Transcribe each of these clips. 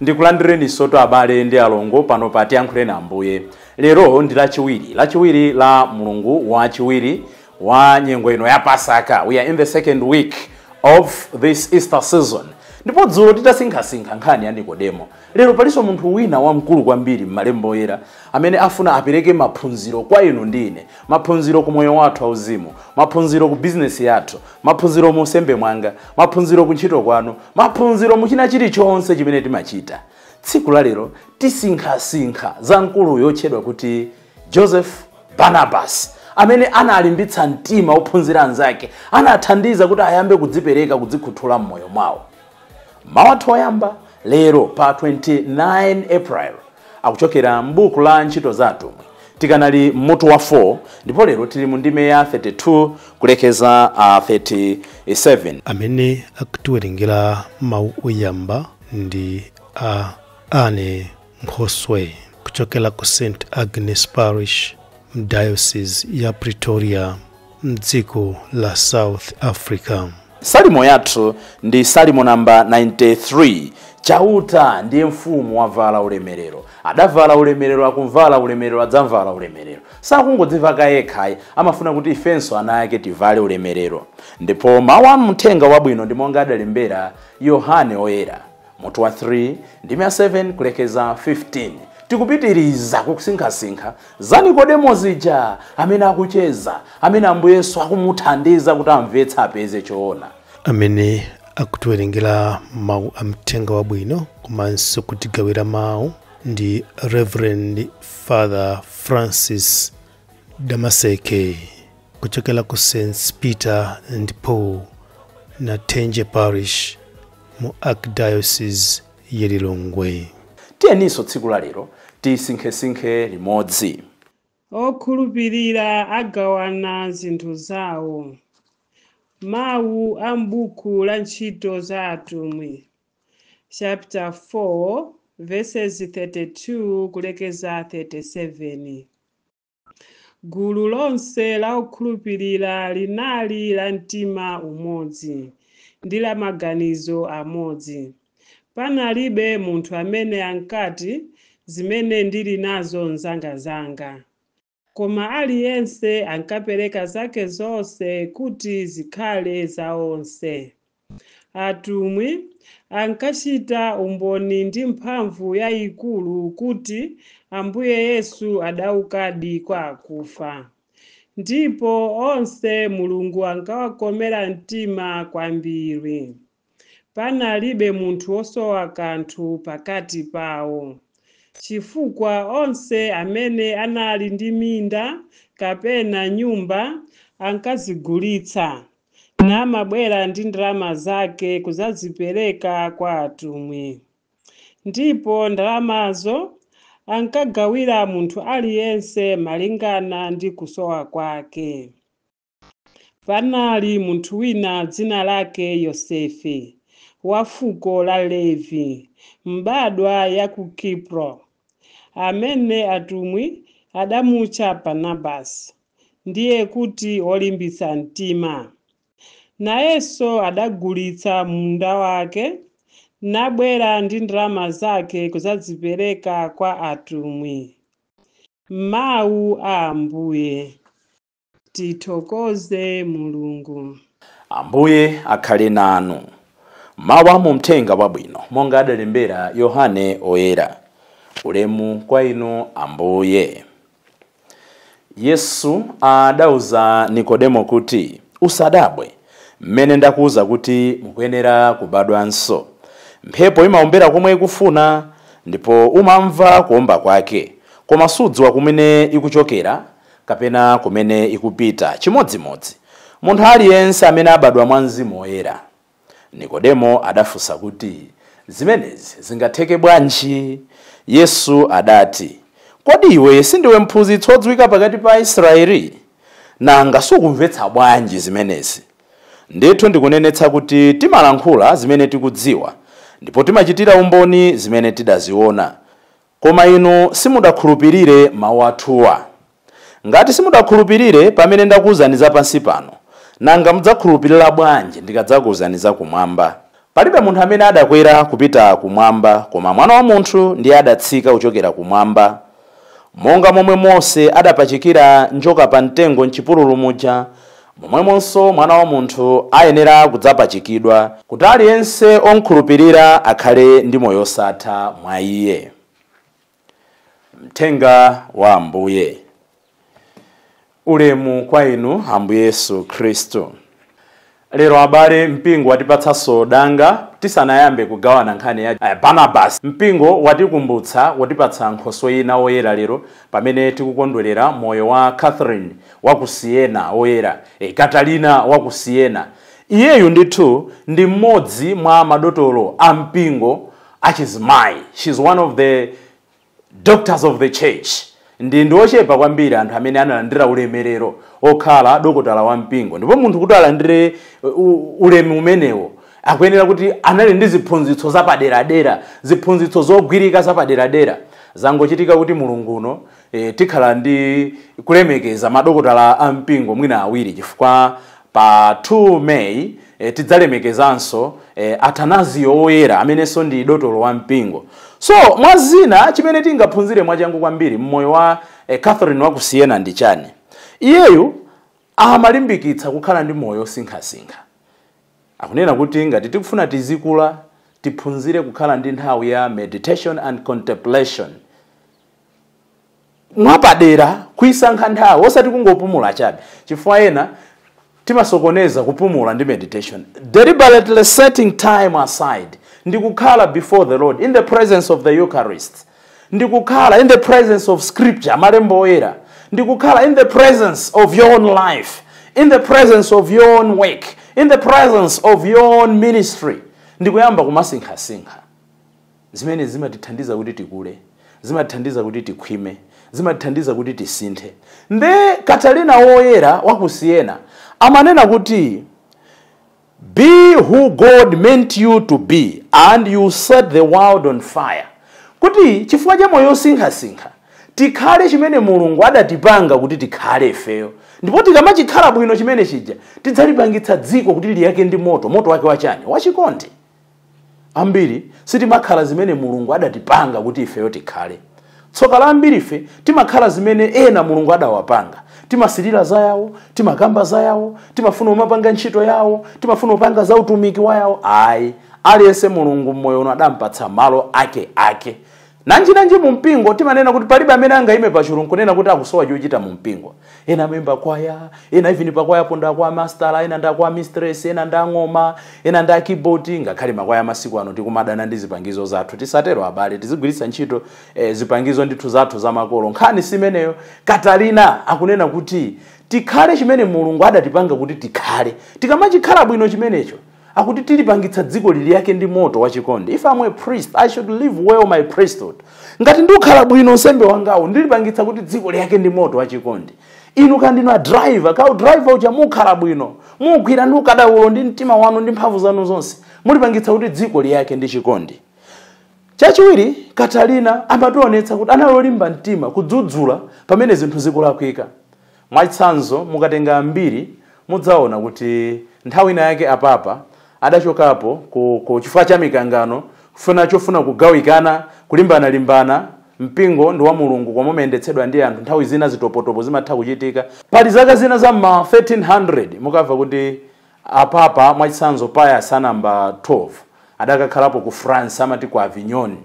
Ndikulandireninsotu abale ndi alongo pano pa Tiyankhuleni Ambuye. Lero ndi Lachiwiri, Lachiwiri la mlungu wachiwiri wa nyengo ino ya Pasaka. We are in the second week of this Easter season. Ndipo dzulo titasinkhasinkha nkhani ya Nikodemo, lero palinso munthu wina wamkulu kwambiri m'Malembo Oyera amene afuna apereke maphunziro kwa inu ndi ine, maphunziro ku moyo wathu wauzimu, maphunziro ku bizinesi yathu, Maphunziro mu unsembe mwanga, maphunziro kuntchito kwanu, maphunziro mu china chilichonse chimene timachita. Tsiku la lero tisinkhasinkha za mkuluyo otchedwa kuti Joseph Barnabas amene analimbitsa mtima ophunzira anzake, anathandiza kuti ayambe kudzipereka, kudzikhuthula m'moyo mwawo. Mawu athu oyamba lero pa 29 April akuchokera m'buku la Ntchito za Atumwi. Tikanali m'mutu wa 4 ndipo lero tili mu ndime ya 32 kulekeza uh, 37. amene akutiwerengera mawu oyamba ndi Anne Nkhoswe kuchokera ku St Agnes Parish m'Diocese ya Pretoria m'dziko la South Africa. Salimo yathu ndi Salimo namba 93. Chauta ndiye mfumu wavala ulemerero, adavala ulemerero, akumvala ulemerero, adzamvala ulemerero. Sakungodziveka yekha ayi, amafuna kuti ifenso ana ake tivale ulemerero. Ndipo mawu a mthenga wabwino ndi monga adalembera Yohane Oyera. Mutu wa 3 ndime ya 7 kulekeza 15 tikupitiriza kusinkhasinkha za nikodemo zija amene akucheza amene ambuye yesu akumuthandiza kuti amvetse apeze choona amene akutiwerengera mawu a mthenga wabwino komanso kutigawira mawu ndi reverend father francis damaseke kuchokera ku st peter and paul Nathenje Parish mu Archdiocese ya Lilongwe. Tiyeninso tsiku la lero tisinkhesinkhe limodzi. Okhulupirira agawana zinthu zawo. Mawu a m'buku la Ntchito za Atumwi chapter 4 verses 32 kulekeza 37. Gulu lonse la okhulupirira linali la mtima umodzi ndi la maganizo amodzi. Panalibe munthu amene ankati, Zimene ndili nazo n'zangazanga. Koma aliyense ankapereka zake zonse kuti zikhale za onse. Atumwi ankachita umboni ndi mphamvu yaikulu kuti Ambuye Yesu adaukadi kwa akufa. Ndipo onse Mulungu ankawakomera mtima kwambiri. Panalibe munthu wosowa kanthu pakati pawo, chifukwa onse amene anali ndi minda kapena nyumba ankazigulitsa. namabwera ndi ndalama zake kudzazipereka kwa atumwi. Ndipo ndalamazo ankagawira munthu aliyense malingana ndi kusowa kwake. Panali munthu wina dzina lake Yosefe, wa fuko la Levi, mbadwa ya ku Kipro, amene atumwi adamutcha Barnabasi. ndiye kuti wolimbitsa mtima. Nayenso adagulitsa munda wake, nabwera ndi ndalama zake kudzazipereka kwa atumwi. Mawu a Ambuye. Tithokoze Mulungu. Ambuye akhale nanu. Mawu a mu Mthenga Wabwino monga adalembera Yohane Oyera. Ulemu kwa Inu Ambuye. Yesu adauza Nikodemo kuti, Usadabwe, mmene ndakuuza kuti mukuyenera kubadwanso. Mphepo imaombera komwe ikufuna, ndipo umamva kuomba kwake, koma sudziwa kumene ikuchokera kapena kumene ikupita. Chimodzimodzi, munthu aliyense amene abadwa mwa Mzimu Woyera. Nikodemo adafunsa kuti, Zimenezi zingatheke bwanji? Yesu adati, Kodi iwe sindiwe mphunzitsi wodziwika pakati pa Aisraele? Nanga sukumvetsa bwanji zimenezi? Ndithu ndikunenetsa kuti timalankhula zimene tikudziwa, ndipo timachitira umboni zimene tidaziwona, Koma inu simudakhulupirire mawu athuwa. Ngati simudakhulupirire pamene ndakuuzani za pansi pano, nanga mudzakhulupirira bwanji ndikadzakuuzani za Kumwamba? Palibe munthu amene adakwera kupita Kumwamba, koma Mwana wa Munthu ndiye adatsika kuchokera Kumwamba. Monga momwe Mose adapachikira njoka pa mtengo m'chipululu muja, Momwemonso Mwana wa Munthu ayenera kudzapachikidwa, kuti aliyense omkhulupirira akhale ndi moyo osatha mwa Iye. Mthenga wa Ambuye. Ulemu kwa Inu, Ambuye Yesu Khristu. Lero abale, mpingo watipatsanso danga tisanayambe kugawana nkhani ya Barnabasi. Mpingo watikumbutsa, watipatsa nkhoswe ina, woyera lero, Pamene tikukondwerera moyo wa Catherine wa ku Siena woyera, eh, Catalina wa ku Siena, iyeyu ndithu ndi mmodzi mwa madotolo a mpingo achizimayi. She's one of the doctors of the church ndi ochepa kwambiri anthu amene analandira ulemerero okhala dokotala wa mpingo ndipo munthu kuti alandire uh, u- ulemu umenewo akuyenera kuti anali ndi ziphunzitso zapaderadera ziphunzitso zogwirika zapaderadera zangochitika kuti mulungu uno e, tikhala ndi kulemekeza madokotala a mpingo mwina awiri chifukwa pa 2 may e, tidzalemekezanso e, Atanazio woyera amenenso ndi dotolo wa mpingo so mwa zina chimene tingaphunzire mwachangu kwambiri mmoyo wa e, Catherine wa ku Siena ndi chani iyeyu amalimbikitsa kukhala ndi moyo osinkhasinkha Akunena kuti ngati tikufuna tizikula, tiphunzire kukhala ndi nthawi ya meditation and contemplation. Mwapadera kuisankha nthawi osati kungopumula chabe chifukwa ena timasokoneza kupumula ndi meditation. Deliberately setting time aside ndi kukhala before the Lord in the presence of the Eucharist. ndi kukhala in the presence of scripture malembo oyera ndi kukhala in the presence of your own life in the presence of your own work in the presence of your own ministry ndi kuyamba kumasinkhasinkha zimene zimatithandiza kuti tikule zimatithandiza kuti tikhwime zimatithandiza kuti tisinthe nde Katalina woyera wa ku Siena amanena kuti Be who God meant you to be and you set the world on fire. Kuti chifukwa cha moyo osinkhasinkha tikhale chimene Mulungu adatipanga kuti tikhale ifeyo. Ndipo tikamachikhala bwino chimene chija tidzalipangitsa dziko kuti liyake ndi moto, moto wake wachani? Wachikondi. ambiri sitimakhala zimene mulungu adatipanga kuti ifeyo tikhale tsoka la ambiri ife timakhala zimene ena mulungu adawapanga timasirira za yawo timakamba za yawo timafuna umapanga ntchito yawo timafuna upanga za utumiki wa yawo ayi aliyense mulungu mmoyo uno adampatsa malo ake ake nanjinanji mu mpingo timanena kuti palibe amene angayime pachulu nkunena kuti akusowa chochita mu mpingo ena amaimba kwaya ena even pakwayapo ndi a choir master ena ndi a choir mistress ena ndi ang'oma ena ndi a keyboard ngakhale makwaya masiku ano tikumadana ndi zipangizo zathu tisatero abale tizigwiritsa ntchito eh, zipangizo ndithu zathu zamakolo nkhani si imeneyo Katalina akunena kuti tikhale chimene mulungu adatipanga kuti tikhale tikamachikhala bwino chimenecho akuti tilipangitsa dziko liyake ndi moto wachikondi if I'm a priest i should live well my priesthood ngati ndikhala bwino unsembe wangawo ndilipangitsa kuti dziko liyake ndi moto wachikondi inu kaya ndinu a driver ka u driver uja mukhala bwino mugwira ndi ukadaulo ndi mtima wanu ndi mphamvu zanu zonse mulipangitsa kuti dziko liyake ndi chikondi chachiwiri katalina amationetsa kuti anali olimba mtima kudzudzula pamene zinthu zikulakwika Mwachitsanzo, mukatenga mbiri mudzaona kuti nthawi ina yake a Papa adachokapo ku ku chifukwa cha mikangano kufuna chofuna kugawikana, kulimbanalimbana, mpingo ndi wa Mulungu koma umayendetsedwa ndi anthu nthawi zina zitopotopo zimatha kuchitika. Pali zaka zina za m'ma 1300 mukamva kuti a Papa mwachitsanzo Pius a number 12 adakakhalapo ku France amati ku Avignon.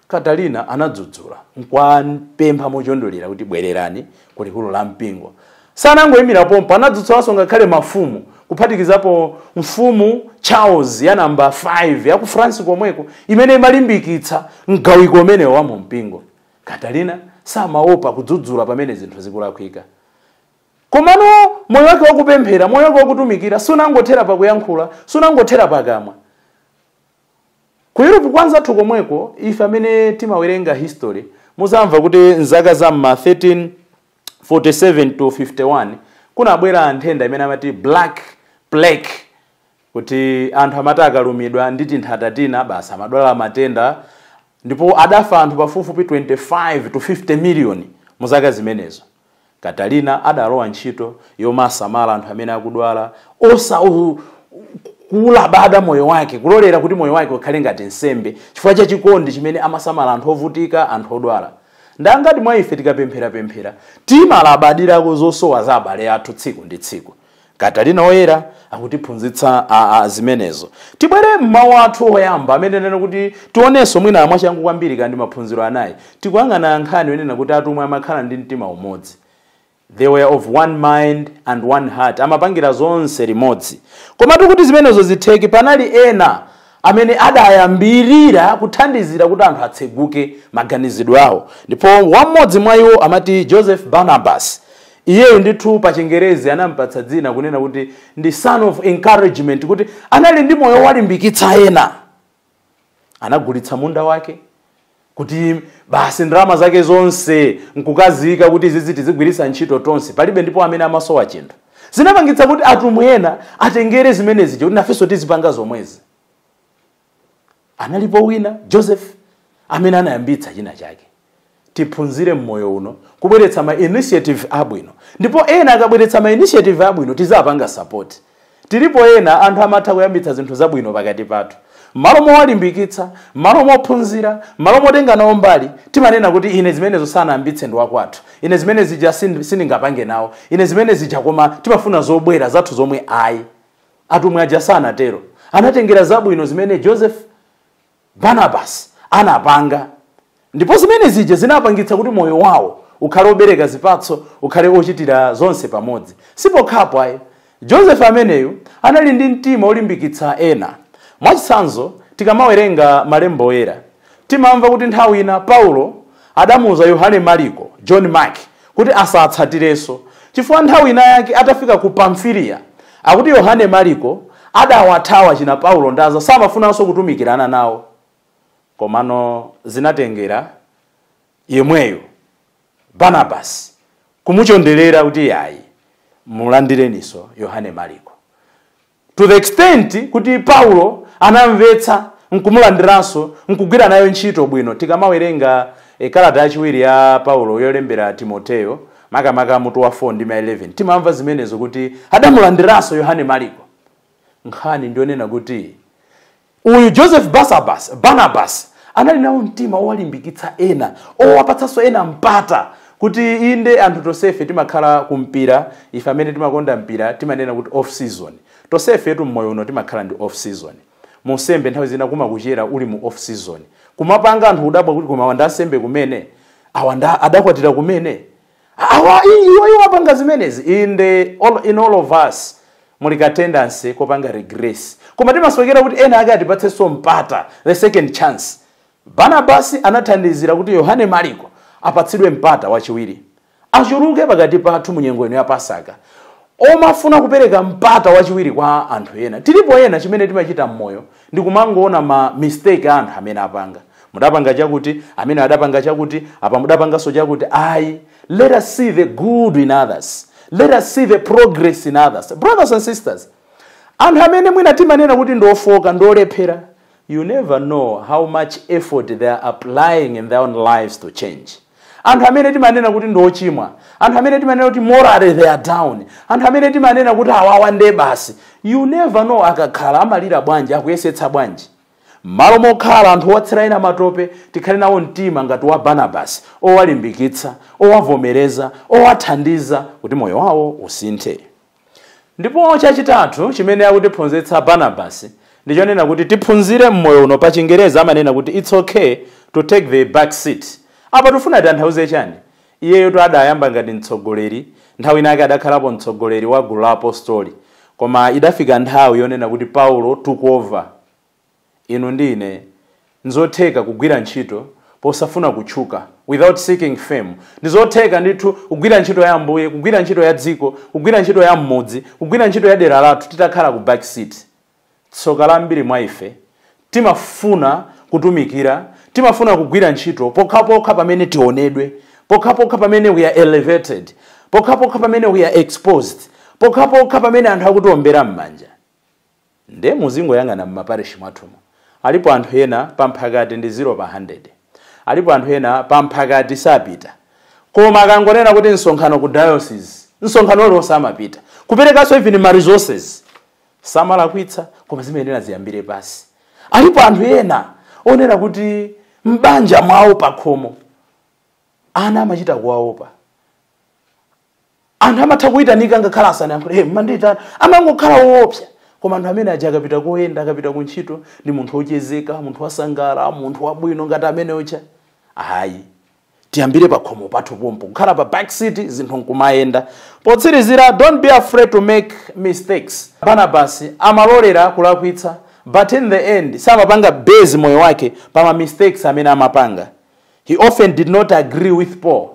Katarina anadzudzula n'kuwapempha mochondelera kuti, Bwererani ku likulu la mpingo. Sanangoimira pompo, anadzudzulanso ngakhale mafumu, kuphatikizapo Mfumu Charles ya namba 5 ya ku France komweko, imene imalimbikitsa mgawiko umenewo wa mumpingo. Katarina samaopa kudzudzula pamene zinthu zikulakwika. Komano, moyo wake wa kupemphera, moyo wake wa kutumikira, sunangothera pa kuyankhula, sunangothera pakamwa. Ku Europe kwa anzathu komweko, ife amene timawerenga history, muzamva kuti m'zaka za m'ma 1347 to 51, kunabwera nthenda imene amati Black Plague, kuti anthu amati akalumidwa ndi tinthata tina, basi amadwala matenda, ndipo adafa anthu pafupifupi 25 to 50 miliyoni mu zaka zimenezo. Katarina adalowa ntchito yomasamala anthu amene akudwala, osaulabada moyo wake, kulolera kuti moyo wake ukhale ngati nsembe chifukwa cha chikondi chimene amasamala anthu ovutika, anthu odwala. Ndi angati mwa ife tikapempherapemphera timalabadirako zosowa za abale athu tsiku ndi tsiku? Katarina Woyera akutiphunzitsa zimenezo. Tibwere m'mawu athu oyamba amene anena kuti tionenso mwina mwachangu kwambiri kaya ndi maphunziro anayi tikuyang'ana nkhani yonena kuti atumwi amakhala ndi mtima umodzi they were of one mind and one heart amapangira zonse limodzi komatu kuti zimenezo zitheke panali ena amene adayambirira kuthandizira kuti anthu atseguke maganizidwe awo ndipo m'modzi mwa iwo amati joseph barnabas Iyeyu ndithu pa chingerezi anamupatsa dzina kunena kuti ndi son of encouragement kuti anali ndi moyo walimbikitsa ena. Anagulitsa munda wake kuti basi ndalama zake zonse nkukaziyika kuti izizi tizigwiritsa ntchito tonse palibe ndipo amene amasowa chinthu. Zinapangitsa kuti atumwi ena atengere zimenezi kuti nafenso tizipanga zomwezi. analipo wina joseph amene anayambitsa china chake tiphunzire mmoyo uno kubweretsa ma initiative abwino ndipo ena akabweretsa ma initiative abwino tizipanga support tilipo ena anthu amatha kuyambitsa zinthu zabwino pakati pathu mmalo mowalimbikitsa mmalo mophunzira mmalo motenga nawo mbali timanena kuti ine zimenezo sanayambitse ndi wakwathu ine zimene zija sin- sindingapange nawo ine zimene zija koma timafuna zobwera zathu zomwe ayi Atumwi aja sanatero. Anatengera zabwino zimene Joseph Barnabas anapanga ndipo zimene zija zinapangitsa kuti moyo wawo ukhale obereka zipatso ukhale ochitira zonse pamodzi sipokhapo ayi joseph ameneyu anali ndi mtima olimbikitsa ena mwachitsanzo tikamawerenga malembo oyera timamva kuti nthawi ina paulo adamuuza yohane mariko john mark kuti asawatsatirenso, chifukwa nthawi inayake atafika ku Pamfiliya, akuti Yohane Maliko adawathawa achina Paulo ndi anzao, samafunanso kutumikirana nawo. Komano zinatengera yemweyu Banabasi kumuchonderera kuti iyayi, mulandireninso Yohane Maliko. to the extent kuti paulo anamvetsa nkumulandiranso nkugwira nayo ntchito bwino tikamawerenga e, kalata yachiwiri ya paulo yolembera timoteyo makamaka mutu wa 4 ndime ya 11 timamva zimenezo kuti adamulandiranso yohane mariko nkhani ndionena kuti Uyu Joseph Barsabas, Barnabas, anali nawo mtima owalimbikitsa ena, owapatsanso ena mpata kuti inde anthu tonsefe timakhala kumpira, ife amene timakonda mpira timanena kuti off season. Tonsefetu m'moyo uno timakhala ndi off season. Mu unsembe nthawi zina kumakuchera uli mu off season. Kumapanga anthu kudabwa kuti koma awa ndi ansembe kumene? Awa adakwatira kumene? awa iwo iwo apanga zimenezi inde all, in all of us muli ka tendency kopanga regress koma timasowekera kuti ena ake atipatsenso mpata the second chance barnabasi anathandizira kuti yohane mariko apatsidwe mpata wachiwiri achuluke pakati pathu mu nyengo ino ya pasaka omafuna kupereka mpata wachiwiri kwa anthu ena tilipo ena chimene timachita mmoyo ndikumangoona ma mistake a anthu amene apanga mudapanga chakuti amene adapanga chakuti apa mudapanganso chakuti ayi let us see the good in others let us see the progress in others brothers and sisters anthu amene mwina timanena kuti ndiofoka ndiolephera you never know how much effort they are applying in their own lives to change anthu amene timanena kuti ndi ochimwa anthu amene timanena kuti morally they are down anthu amene timanena kuti awawa nde basi you never know akakhala amalira bwanji akuyesetsa bwanji m'malo mokhala anthu owatsira ena matope tikhale nawo mtima ngati wa barnabasi owalimbikitsa owavomereza owathandiza kuti moyo wawo usinthe Ndipo chachitatu chimene akutiphunzitsa Barnabas ndi chonena kuti tiphunzire m'moyo uno pa chingerezi amanena kuti it's okay to take the back seat. Apa tifuna titanthauze chani? Iyeyotu adayamba ngati mtsogoleri, nthawi inake adakhalapo mtsogoleri wa gulu la apostoli. Koma idafika nthawi yonena kuti Paulo took over. Inu ndi ine nzotheka kugwira ntchito posafuna kutchuka, without seeking fame. Ndizotheka ndithu kugwira ntchito ya Ambuye, kugwira ntchito ya dziko, kugwira ntchito ya mmudzi, kugwira ntchito ya dera lathu titakhala ku back seat. Tsoka la ambiri mwa ife, timafuna kutumikira, timafuna kugwira ntchito pokhapokha pamene tionedwe, pokhapokha pamene we are elevated, pokhapokha pamene we are exposed, pokhapokha pamene anthu akutiombera mmanja. Nde muzingoyang'ana mmaparishi mwathumu. Alipo anthu ena pa mphakati ndi zero pa handede. Alipo anthu ena pa mphakati sapita. Koma akangonena kuti msonkhano ku diocese, msonkhano uliwonse amapita. Kuperekanso even ma resources. Samalakwitsa koma zimayenera ziyambire pansi. Alipo anthu ena onena kuti mbanja mwawo pakhomo ana amachita kuwaopa. anthu amatha kuyitanika ngakhale asanayankhule hey, mandiyitana amangokhala woopsa koma anthu omwe aja akapita koyenda akapita ku ntchito ndi munthu wochezeka munthu wansangala munthu wabwino ngati amene ucha ayi tiyambire pakhomo pathu pompo kukhala pa back seat zinthu nkumayenda potsirizira don't be afraid to make mistakes barnabas amalolera kulakwitsa but in the end samapanga base moyo wake pa ma mistakes amene amapanga He often did not agree with Paul,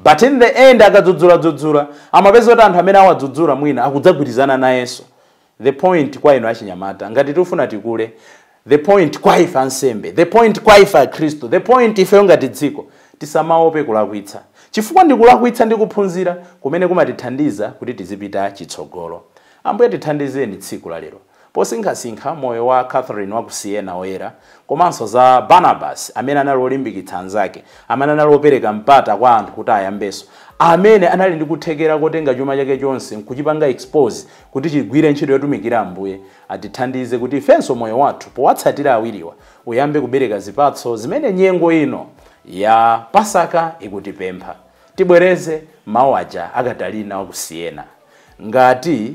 but in the end akadzudzula-dzudzula amapeza kuti anthu amene awadzudzula mwina akudzagwirizana nayenso. The point kwa inu achinyamata, ngati tikufuna tikule, the point kwa ife ansembe, the point kwa ife akhristu, the point ifeyo ngati dziko, tisamaope kulakwitsa. Chifukwa nkulakwitsa ndi kuphunzira kumene kumatithandiza kuti tizipita chitsogolo. Ambuye tithandizeni tsiku la lero. Posinkhasinkha moyo wa Catherine wa ku Siena woyera, komanso za Barnabas amene anali wolimbikitsa anzake, amene anali wopereka mpata kwa anthu kuti ayambenso, amene anali ndi kuthekera kotenga chuma chake chonse nkuchipanga expose kuti chigwire ntchito yotumikira Ambuye, atithandize kuti ifenso moyo wathu powatsatira awiriwa uyambe kubereka zipatso zimene nyengo ino ya Pasaka ikutipempha. Tibwereze mau aja a Katarina wa ku Siena. Ngati.